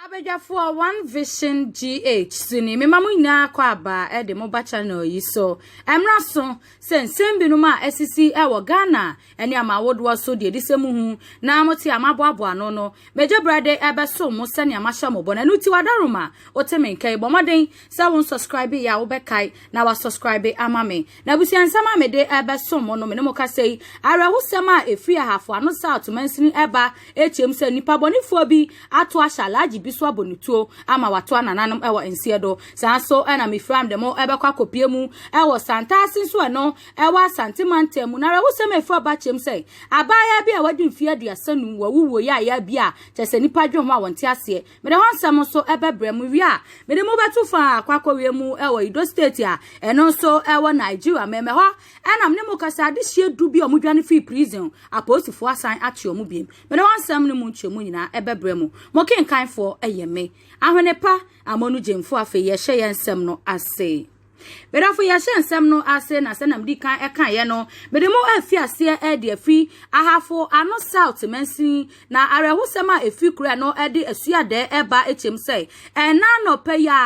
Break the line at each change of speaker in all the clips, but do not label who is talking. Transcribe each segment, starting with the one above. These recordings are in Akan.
Abadwafoɔ One Vision GH so ni mema mo nyinaa akɔ aba de mo ba channel yi so. Ɛmmra so sɛ nsɛm binom a asisi wɔ Ghana ne amaawodoɔ so deɛ edisɛ mu hu na mote a maboaboa ano no, megye berɛ de ɛbɛso mo sɛnea mahyɛ mo bɔ no. Ɛno ti wadaroma, wote me nka yi, bɔ mmɔden sɛ wo nsubscribe yɛ a wobɛkae na wasubscribe ama me. Na abusua nsɛm a mede rebɛsom mo no, me ne mo kasa yi, awerɛhosɛm a ɛfiri ahafo ano South mansini reba akyɛm sɛ nnipa bɔnefoɔ bi ato ahyɛ alagye bi so abɔ no tuo ama wato anananom wɔ nseɛ do. Saa nso na mefira mede mo bɛkɔ akɔpie mu wɔ Santaase nso ɛno ɛwɔ Asante mantam mu. Na awerɛhosɛm a ɛfiri aba kyɛm sɛ abaayaa bi a wadi mfeɛ aduasa num wawuwuo yaayaa bi a kyɛ sɛ nnipa dwen ho a wɔnte aseɛ. Mede ho nsɛm nso bɛbrɛ mo wie a mede mo bɛto fa akɔ akɔwie mu wɔ Edo State a ɛno nso wɔ Nigeria mmɛmmɛ hɔ ɛna me ne mo kasa adehyeɛ du bi a wɔdwane fii prison apolisifoɔ asan akye wɔn biem mede ho nsɛm ne mo nkyɛmu nyinaa bɛbrɛ mo mo kenkanfoɔ ɛyɛ me Ahwenepa Amonu Gyamfo afei yɛhyɛ yɛn nsɛm no ase. Medafo yɛhyɛ nsɛm no ase na sɛ nam di kan ɛka yɛ no mede mo afi aseɛ ɛde afi ahafo ano south mansin na awerɛhosɛm a efi kura no ɛde asuadɛ ɛba ekyem sɛ ɛna nɔpɛ ya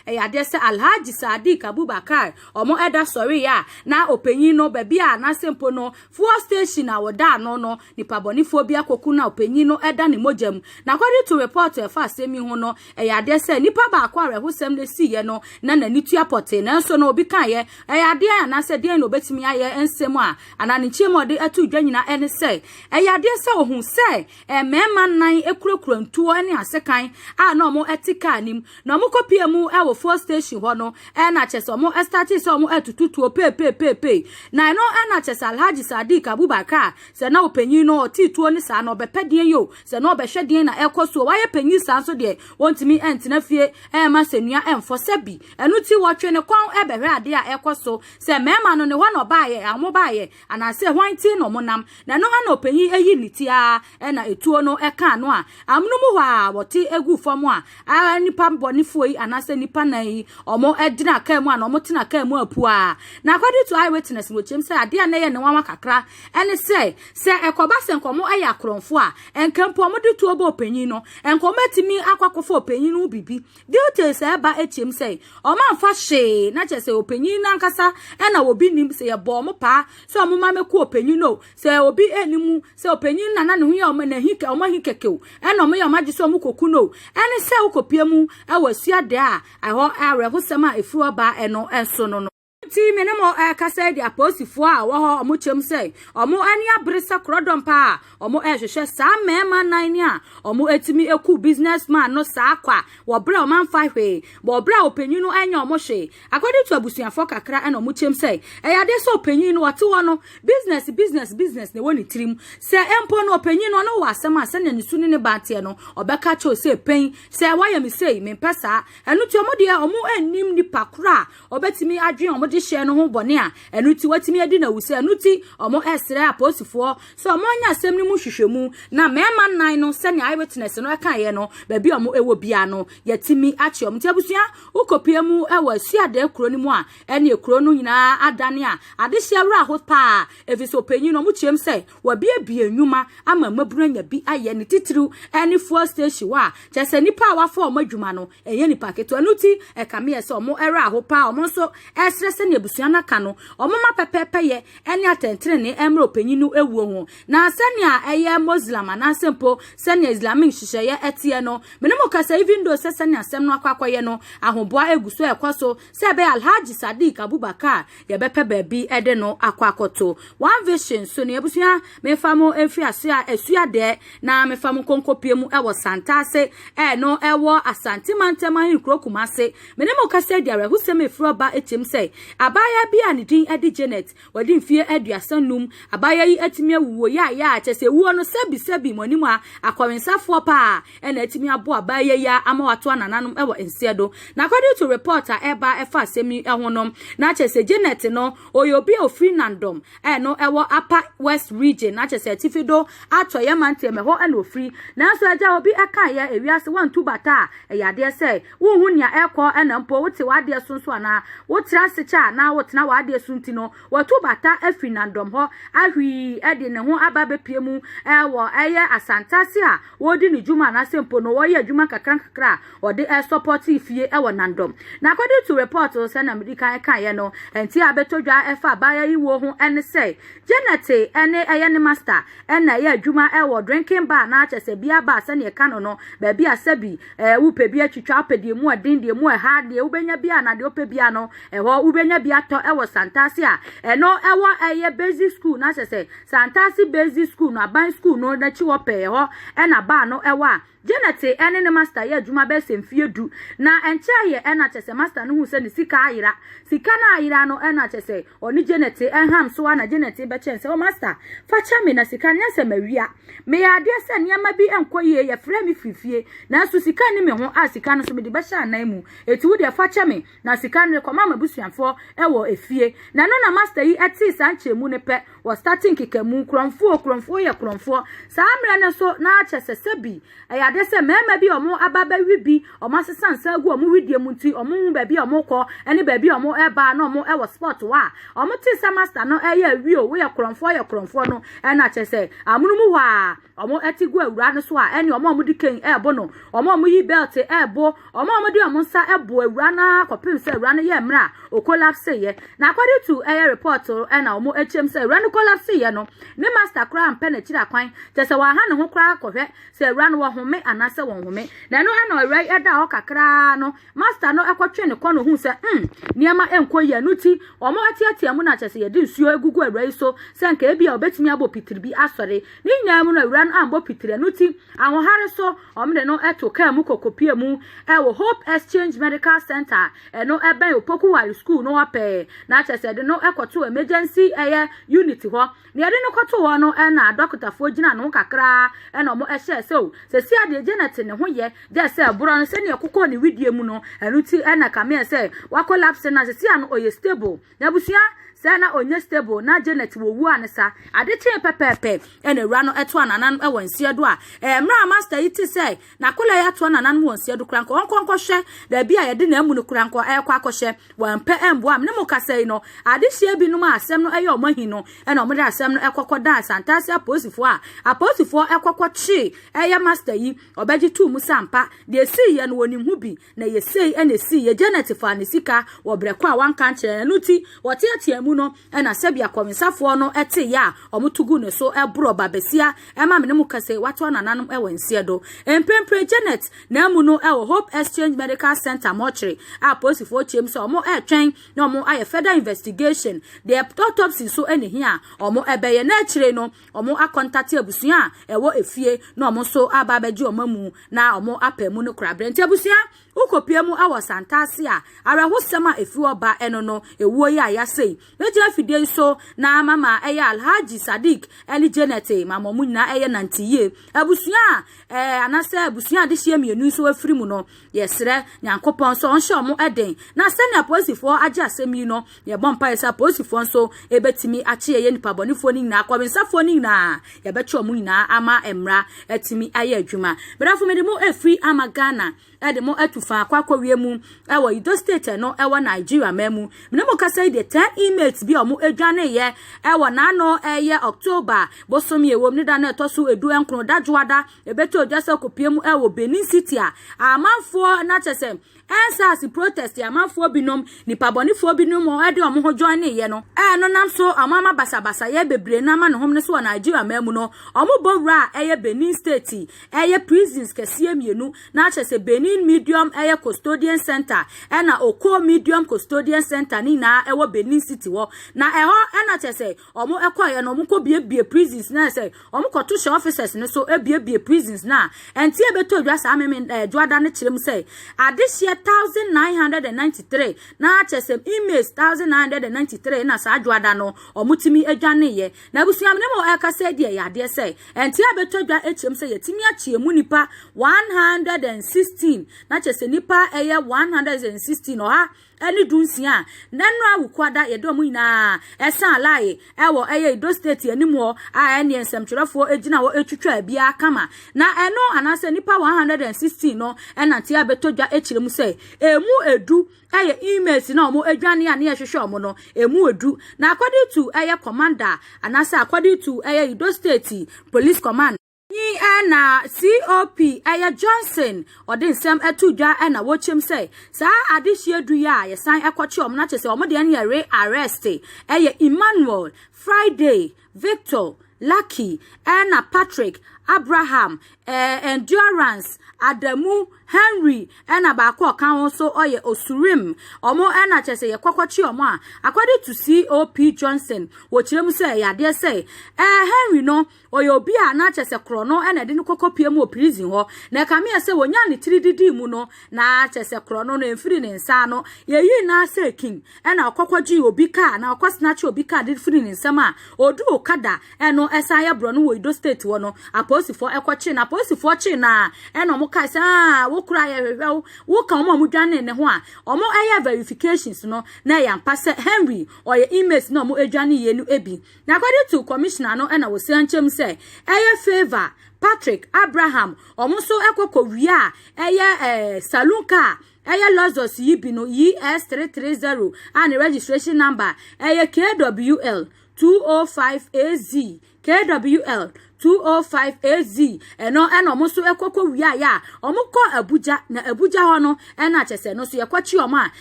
ɛyɛ adeɛ sɛ alhaji sadiq abubakar ɔmo ɛda sɔre ya na ɔpanyin no baabi a n'asɛmpo no fuel station a wɔda ano no Nipa bɔnefoɔ bi akoko no a ɔpanyin no da ne mogya mu. Na according to report a ɛfa asɛm yi ho no, ɛyɛ adeɛ sɛ nipa baako awerɛhosɛm na ɛsiiɛ no na n'ani tua pɔtee. Nanso no obi kaeɛ, ɛyɛ adeɛ anaasɛ deɛn na ɔbɛtumi ayɛ nsɛm a anaa ne nkyɛn mu a ɔde ato dwa nyinaa ɛne sɛ ɛyɛ adeɛ sɛ ɔhu sɛ mmarima nnan kurakura ntuo ne asekan a na wɔte kaa no mu. Na ɔmo kɔ pia mu ɛwɔ fuel station hɔ no ɛna kyɛ sɛ ɔmo ɛstate sɛ ɔmo ɛtutu tuo peepeepeepee na ɛno ɛna kyɛ sɛ Alhaji Sadiq Abubakar a sɛ na ɔpanyin no ɔte tuo no saa na ɔbɛpɛ deɛn yɛ o sɛ na ɔbɛhwɛ deɛn na ɛkɔ so o wayɛ panyin saa nso deɛ ɔntumi ɛntena fie ɛmma asɛnnua ɛmfɔ sɛ bi ɛno ti wɔtwe ne kɔn ɛbɛhwɛ adeɛ a ɛkɔ so sɛ mɛɛma no ne hɔ na ɔbaayɛ a ɔmo baayɛ Anaasɛ hwan ti na wɔnam? Na ɛno na ɔpanyin ayi ne ti ara, ɛna etuo no ɛka ano a, amonom hɔ a wɔte egu fam a, a nipa bɔnefoɔ yi anaasɛ nipa nan yi, wɔn gyina kaa mu a, na wɔn tena kaa mu apu a. Na according to eyewitness, no kyerɛm sɛ adeɛ a na ɛyɛ ne nwanwa kakra ɛne sɛ, sɛ ɛkɔba sɛ nka wɔn ɛyɛ akorɔmfoɔ a, nka mpo wɔn de tuo bɔ ɔpanyin no, nka wɔn atumi akɔ akɔfa ɔpanyin no ho biribi. Details a ɛba akyem sɛ wɔn amfa hwee na kyerɛ sɛ ɔpanyin no ankasa na obi nim sɛ yɛbɔ wɔn paa sɛ wɔn ma mɛku ɔpanyin no sɛ obi ɛni mu sɛ ɔpanyin na na ne ho yɛ wɔn na hi wɔn ahi kɛkɛ o ɛna wɔn yɛ wɔn agye sɛ wɔn kɔku no ɛne sɛ wokɔpie mu ɛwɔ asuade a ɛhɔ awerɛhosɛm a ɛfiri hɔ baa ɛno ɛnso no no. Nti me ne mo ɛkasa eh, di apolisifoɔ a wɔhɔ ɔmo kyɛm sɛ ɔmo ani abere sɛ korɔdɔm paa ɔmo ɛhwehwɛ eh, saa mmarima nan ne a ɔmo etumi eku business man no saa kwa wɔbrɛ ɔmo anfa hwee wɔbrɛ a ɔpanyin no ɛnyɛ ɔmo hwee akɔde to abusuafoɔ kakra ɛna ɔmo kyɛm sɛ ɛyɛ adeɛ sɛ ɔpanyin no ɔte hɔ no business business business na ɛwɔ ne tirim sɛ ɛmpo no ɔpanyin no ɔno wɔ asɛm a sɛnea ne su ne ne ba teɛ no ɔbɛka kyɛw sɛ pɛn sɛ wɔyɛ me sei mempɛ saa ɛno ti ɔmo deɛ ɔmo ɛnim nipa koro a Wɔbɛtumi adwene wɔn dehyeɛ no ho bɔne a ɛno ti wɔatumi adi no awu sɛ ɛno ti wɔsrɛ apolisifoɔ sɛ wɔnyɛ asɛm no mu nhwehwɛmu na mmarima nnan no sɛnea eyewitness no kaeɛ no baabi a wɔwɔ biara no yɛatumi akye wɔn. Nti abusua wokɔpue mu wɔ Asuadɛɛ kuro no mu a ɛneɛ kuro no nyinaa adane a adehyeɛ werɛ aho paa ɛfiri sɛ ɔpanyin no wɔkyeam sɛ Wɔabuebue nnwuma ama mmabunu anya bi ayɛ, ne titiriw ne fuel station hɔ a, kyerɛ sɛ nnipa a wɔafa wɔn adwuma no, ɛnyɛ nnipa ketewa. Ɛno nti, ɛkame yɛn sɛ wɔn werɛ ahow paa. Wɔn nso srɛ sɛnea abusua no aka no, wɔmma pɛpɛɛpɛyɛ ne atɛntrenee mmra ɔpanyin no wuo ho. Na sɛnea ɛyɛ Muslim anaasɛ mpo sɛnea Islamic nhyehyɛeɛ teɛ no, me ne mo kasa even though sɛ sɛnea asɛm no akɔ akɔyɛ no, ahoboa gu so rekɔ so Sɛ ɛbɛyɛ a Alhaji Sadiq Abubakar a yɛbɛpɛ baabi de no akɔ akɔto. One Vision nso ni, Abusua memfa mo mfiri ase a Asuadɛɛ na mefa mo nkɔnkɔpie mu wɔ Santase, ɛno ɛwɔ Asante Mantam Ahenkuro Kumase. Me ne mo rekasa yi de awerɛhosɛm ɛfiri ɔba tirim sɛ abaayaa bi a ne din de Janet Wadi mfeɛ aduasa num. Abaayewa yi atumi awu wɔ yɛ a yɛ a kyɛ sɛ wuo no sɛbi sɛbi mo anim a akɔwensafoɔ paa ɛna atumi aboa abaayewa yi ara ama watoa nananom ɛwɔ nseɛ do. Na according to report a ɛɛba ɛfa asɛm yi ɛho no na kyɛ sɛ Janet no ɔyɛ obi a ofiri Nandom a ɛno ɛwɔ Upper West Region na kyɛ sɛ Atifi do Atɔeɛ Manteɛ mu ɛhɔ ɛna ofiri. Nanso agya obi ɛkaeɛ ewiase wantu bata a ɛyɛ adeɛ sɛ Wonhu nea ɛrekɔ na mpo wote w'adeɛ so nso anaa? Wotra ase kyɛ a na wotena w'adeɛ so nti no, watu bata afiri nnandɔm hɔ ahwii de ne ho aba abɛpue mu wɔ ɛyɛ asantaase a ɔredi ne dwuma anaasɛ mpo no ɔreyɛ adwuma nkakrankakra a ɔde resɔpɔte fie wɔ nnandɔm. Na according to report no, sɛnea medi kan kaeɛ no, nti a abɛtɔ dwa ɛfa abaayewa yi wuo ho ne sɛ Janet ne ɛyɛ ne master na ɛyɛ adwuma wɔ drinking bar anaa kyerɛ sɛ beer bar sɛnea ɛka no no, baabi a sɛbi Ɛɛ, wopɛ bi atwitwa, wopɛ deɛ mu ɔden, deɛ mu ɛha, deɛ wobɛnya biara na deɛ wopɛ biara no, ɛhɔ wobɛnya bi atɔ ɛwɔ Santase a ɛno ɛwɔ ɛyɛ basic school na sɛ sɛ Santase basic school no aban school no n'akyi hɔ pɛɛ ɛhɔ ɛna baa no ɛwɔ a Janet ɛne ne master yɛ adwuma bɛyɛ sɛ mfie du na ɛnkyɛ yɛ ɛna kyɛ sɛ master no hu sɛ ne sika ayera sika no ayera no ɛna kyɛ sɛ ɔne Janet ɛham so a na Janet bɛkyɛn sɛ o master fa kyɛ me na sika no nyɛ sɛ mawia Meyɛɛ adeɛ sɛ nneɛma bi nkɔ yie, yɛfrɛɛ me firi fie, nanso sika nni me ho a sika no nso mede bɛhyɛ anan mu. Enti wo deɛ fa kyɛ me na sika no rekɔma m'abusuafoɔ wɔ efie. Na ɛno na Master yi tee saa nkyerɛmu no pɛ, wɔstate nkekamu, Korɔmfoɔ, Korɔmfoɔ yɛ korɔmfoɔ. Saa mmerɛ no nso na kyerɛ sɛ sɛbi ɛyɛ adeɛ sɛ mmarima bi a wɔaba abɛwe bi, Wɔasesa nsa agu wɔn wedeɛ mu nti wɔnhu baabi a wɔrekɔ ne baabi a wɔreba na wɔwɔ sport wɔ a wɔte sɛ master no ɛyɛ awie o woyɛ korɔmfoɔ yɛ korɔmfoɔ no ɛna kyerɛ sɛ amono mu hɔ a wɔte gu awura no so a ɛne wɔn a wɔde kɛn ɛrebo no wɔn a wɔyi belt ɛrebo wɔn a wɔde wɔn nsa ɛbo awura no ara kɔpem sɛ awura no yɛ mmerɛ a okolapse yɛ na according to ɛyɛ report ɛna wɔn akyɛm sɛ awura no kolapse yɛ no ne master koraa mpɛ n'akyiri akwan kyerɛ sɛ wɔaha ne ho koraa kɔhwɛ Sɛ awura no wɔhome anaasɛ wɔnhome. Na ɛno na awura yi da hɔ kakraa no, master no kɔtwe ne kɔn ohuu sɛ hmm, nneɛma nkɔ yie. Ɛno ti, wɔateatea mu na kyerɛ sɛ yɛde nsuo agugu awura yi so sɛ nka ebi a obetumi abɔ pitiri bi asɔre. Ne nyinaa mu no, awura no ammɔ pitiri. Ɛno ti, ahoɔhare so, wɔde no to kaa mu kɔkɔpie mu wɔ Hope Exchange Medical Center a ɛno bɛn Opoku Ware School no hɔ pɛɛ. Na kyerɛ sɛ yɛde no kɔtoo emergency ɛyɛ unit hɔ. Nea yɛde no kɔtoo hɔ no na adɔkotafoɔ gyinaa ne ho kakraa na wɔhyɛɛ sɛ o, sɛsi adeɛ Janet ne ho yɛ gyɛ sɛ ɛborɔ no sɛnea ɛkokɔɔ ne widie mu no, ɛno nti na kameɛ sɛ wakolapse na sɛsi ano ɔyɛ stable. Na abusua sɛ na ɔnyɛ stable na Janet wɔ wuo a ne sa. Ade kyee pɛpɛɛpɛ na awura no ɛtoa nananom wɔ nseɛ do a mmerɛ a master yi te sɛ Na Kolai atoa nananom wɔ nsiado koraa nkɔ, ɔnkɔ nkɔhwɛ baabi a yɛde n'amu no koraa nkɔ ɛrekɔ akɔhyɛ. Wampɛ ammua me ne mo kasa yi no. Adehyeɛ binom a asɛm no yɛ wɔn ahi no na wɔde asɛm no kɔ kɔdaa Santase apolisifoɔ a apolisifoɔ kɔ kɔkyee ɛyɛ Master yi. Ɔbɛgye too mu sɛ ampa deɛ ɛsiiɛ no wɔnim ho bi. Na ɛyɛ sei na ɛsiiɛ, Janet faa ne sika wɔ berɛ kɔ a wanka ankyerɛ no, ɛno nti wɔteatea mu no na sɛbia kɔwensafoɔ no te yɛ a wɔto gu ne so borɔ ba basia ma me ne mo kɛse watoa nananom wɔ nseɛ do mprempren Janet na amu no wɔ Hope Exchange Medical Center mortuary a apolisifoɔ kyeem sɛ wɔn ɛretwɛn na wɔn ayɛ further investigation deɛ autopsy nso ne hia a wɔn ɛbɛyɛ na akyire no wɔakɔntate abusua a ɛwɔ efie na wɔn nso aba abɛgye wɔn amu na wɔapɛ mu no korabrɛ nti abusua wokɔpie mu wɔ santaase a awerɛhosɛm a ɛfiri hɔ ba ɛno no ɛwuo yi a yɛasɛi mɛgyina fidie yi so na mama ɛyɛ alhaji sadik ɛne janet mama ɔmo nyinaa ɛyɛ nante yie abusua a ɛɛ anasɛ abusua a adehyeɛ mmienu nso afiri mu no Yɛsrɛ Nyankopɔn sɛ ɔnhyɛ ɔmo den. Na sɛnea polisifoɔ agye asɛm yi no, yɛbɔ mpaeɛ sɛ apolisifoɔ nso ebetumi akye yɛyɛ nipa bɔnefoɔ no nyinaa, kɔwensafoɔ no nyinaa, yɛbɛkye ɔmo nyinaa ama mmara atumi ayɛ adwuma. Brɛfo mede mo efiri ama Ghana ɛde mo atu faa kɔ akɔwie mu ɛwɔ Edo State ɛno ɛwɔ Nigeria man mu. Mene mo kasa yi deɛ 10 inmates bi a ɔmo edwaneeɛ ɛwɔ n'ano ɛyɛ October bosome a ɛwɔ mu ne da no ɛtɔ so edu nkron, Dadwoada, Ɛbɛtɔ odwa sɛ ɔkɔpie mu wɔ Benin City a amanfoɔ na kyɛ sɛ ɛnsaase protest amanfoɔ binom nipabɔnefoɔ binom ɛde wɔn ho join ne yɛ no ɛno nam so wɔn ama basabasa yɛ bebree no ama ne hom no so wɔ Nigeria man mu no wɔn bɔ wura a ɛyɛ Benin State ɛyɛ prisons kɛseɛ mmienu na kyɛ sɛ Benin Medium ɛyɛ Custodian Center ɛna Oko Medium Custodian Center ne nyinaa ɛwɔ Benin City hɔ na ɛhɔ ɛna kyɛ sɛ Ɔmo ɛkɔɔyɛ no ɔmo kɔ biebie prisons na ɛsɛ ɔmo kɔ to hyɛ officers no so ebiebie prisons na ɛnti ɛbɛtɔ dwa saa meme ɛɛ dwoada no kyerɛ mu sɛ adehyeɛ thousand nine hundred and ninety three na akyɛ sɛ inmates thousand nine hundred and ninety three na saa dwoada no ɔmo timi adwaneeɛ na abusua mene mo ɛka sɛ deɛ yɛ adeɛ sɛ ɛnti ɛbɛtɔ dwa ɛkyerɛ mu sɛ yɛtimi akyeɛ mu nipa one hundred and sixteen na kyɛ sɛ nipa ɛyɛ one hundred and sixteen ɔha ɛne du nsia a nɛnora wukuada yɛde ɔmo nyinaa ɛsan alaye ɛwɔ ɛyɛ edo state anim hɔ a ɛneɛ nsɛmtwerɛfoɔ egyina hɔ etwitwa biara kama na ɛno anaasɛ nipa 116 no ɛnante abɛtɔ dwa ekyerɛ mu sɛ emu edu ɛyɛ emails na ɔmo adwane a ne ɛhwehwɛ ɔmo no emu edu na according to ɛyɛ commander anaasɛ according to ɛyɛ edo state police command Nyi ara na COP ɛyɛ Johnson ɔde nsɛm ɛto dwa ɛna wɔkyɛm sɛ saa adehyeɛ du yɛ a yɛsan ɛkɔkye wɔn na kyɛ sɛ wɔn deɛ no yɛ re arrest ɛyɛ Emmanuel, Friday, Victor, Lucky ɛna Patrick, Abraham, eh, Endurance, Adamu, Henry ɛna baako ɔka ho so ɔyɛ Osurim wɔn ɛna kyɛ sɛ yɛkɔkɔkye wɔn a according to COP Johnson wɔkyerɛ mu sɛ ɛyɛ adeɛ sɛ eh, Henry no Ɔyɛ obi a na kyerɛ sɛ korɔno na ɛde no kɔkɔpie mu wɔ prison hɔ, na ɛkame yɛ sɛ wɔnyaa ne tiri didii mu no, na kyerɛ sɛ korɔno no ɛmfiri ne nsa ano. Yɛyii no ara sɛ king, ɛna ɔkɔkɔgyee obi kaa anaa ɔkɔsnakyee obi kaa de firii ne nsam a ɔduu Okada, ɛno ɛsan yɛ borɔno wɔ Edo State hɔ no, apolisifoɔ ɛkɔkyee no. Apolisifoɔ kyee no ara, ɛna wɔkae sɛ, Aa, wo koraa yɛhwehwɛ wo, woka wɔn a wɔdwanee ne ho a, wɔyɛɛ verifications no, na ɛyɛ ampa sɛ Henry ɔyɛ inmate no a wɔdwaneeɛ no bi. Na kɔde to commissioner no na wɔsia nkyɛm sɛ ɛyɛ favour Patrick Abraham wɔn nso kɔ kɔ wia a ɛyɛ ɛɛ saloon car ɛyɛ Lexus yi bi no ES 330 a ne registration number ɛyɛ KWL 205 AZ KWL 205 AZ ɛno ɛna wɔn nso kɔ kɔ wia yɛ a wɔn kɔ Abuja na Abuja hɔ no ɛna kyɛsɛ no nso yɛkɔ kyi wɔn a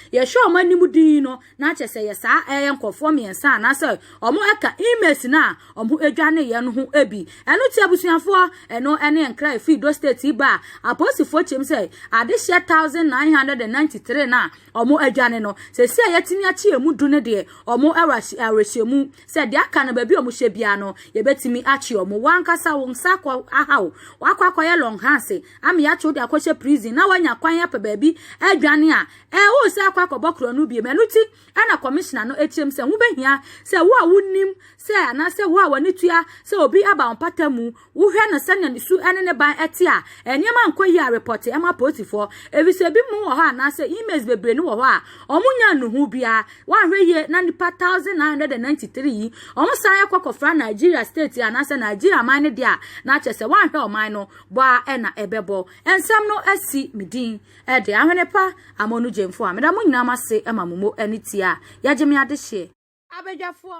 yɛhwɛ wɔn anim din no Na kyerɛ sɛ yɛ saa ɛyɛ nkurɔfoɔ mmiɛnsa anaasɛ wɔn ɛka inmates no a wɔn adwaneeɛ no ho bi. Ɛno nti abusuafoɔ, ɛno ɛne nkra a ɛfiri Edo State yi baa apolisifoɔ kyɛm sɛ adehyeɛ thousand nine hundred and ninety three no a wɔn adwane no, seesei a yɛatumi akye ɛmu du no deɛ, wɔn wɔ awerɛhyɛmu sɛ deɛ aka no baabi a wɔhyɛ biara no yɛbɛtumi akye wɔn. Wo ankasa wo nsa akɔ aha wo, woakɔ akɔyɛ longhorns ama yɛakye wo de akɔhyɛ prison na woanya kwan apɛ baabi adwane a Eh, wo sɛ akɔ akɔbɔ korɔ no biem. Ɛno ti, ɛna kɔmishina no kyerɛm sɛ wobɛhia sɛ wo a wonim sɛ anaasɛ wo a w'ani tua sɛ obi aba wo mpata mu, wohwɛ no sɛnea ne su ne ne ban te a, nneɛma nkɔ yie a repɔte ma polisifoɔ. Efisɛ ebi mu wɔ hɔ anaasɛ emails bebree no wɔ hɔ a wɔnnya nnuhu biara. Woanhwɛ yie na nnipa 1,993 yi, wɔsan yɛ kɔ kɔfra Nigeria state anaasɛ Nigeria man no deɛ a, na kyerɛ sɛ woanhwɛ ɔman no bɔ a ɛna ɛbɛbɔ. Nsɛm no asi me din. Ɛde, Ahwene pa amono gyemfo a, meda mo nyinaa mo ase ma mo mo ani tia a yɛgye me adehyeɛ. Abadwafoɔ.